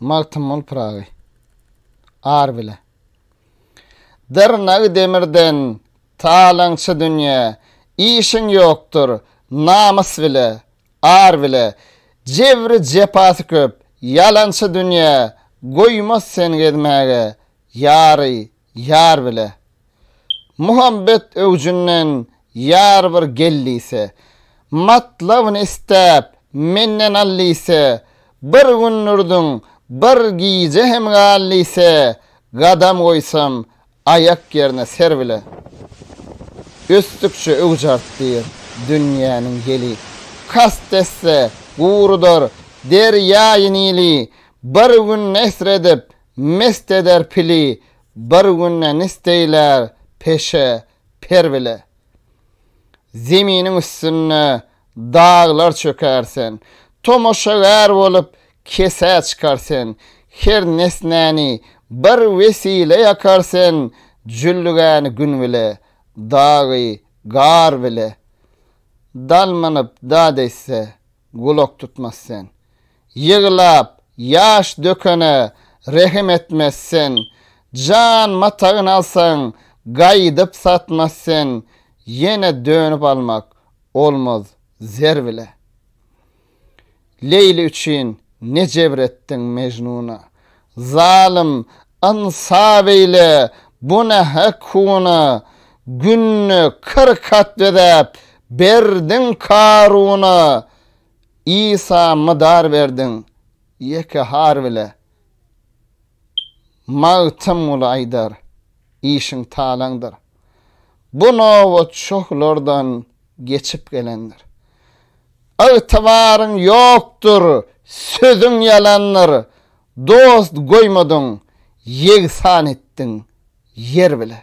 Magtymguly Pyragy. Ar bile. Dyrnagy demirden, talaňçy dünýä, işiň ýokdur, namys bile, ar bile, jebri jepasy köp, ýalançy dünýä, goýmaz sen gezmäge, ýary, Ýar bile. Muhabbet öwjünden ýar bir gel diýse. Matlabyny isläp, menden al diýse. Bir gün durduň, bir gije hem gal diýse. Gadam goýsam, aýak ýerine ser bile. Ösdükçe öwüj artdyr dünýäniň ýeli. Kast etse, gurudar derýaýy Nili. Bir gün nesr edip, Mest eder pili bir günde nisdeýler peşe per bile. Zeminiň üstünde daglar çöker sen, tomaşagär bolup kesä çykar sen, her nesnäni bir wesile ýakar sen, jüllügäni gün bile, dagy gar bile. Dal mynyp dad eýtse, gulak tutmaz sen. Ýyglap, ýaş dökene rehim etmez sen, Jan matagyn alsaň, gaýdyp satmaz sen, Ýene dönüp almak olmaz zer bile. Leýli üçin ne jebr etdiň Mejnuna, Zalym, ynsap eýle, bu ne hekuna, Günde kyrk at bezäp, berdiň Karuna, Isa mydar berdiň ýeke har bile Magtymguly aýdar işiň talaňdyr Bu nobat şohlardan geçip gelendir Ygtybaryň ýokdur sözüň ýalandyr Dost goýmadyň ýegsan etdiň ýer bile.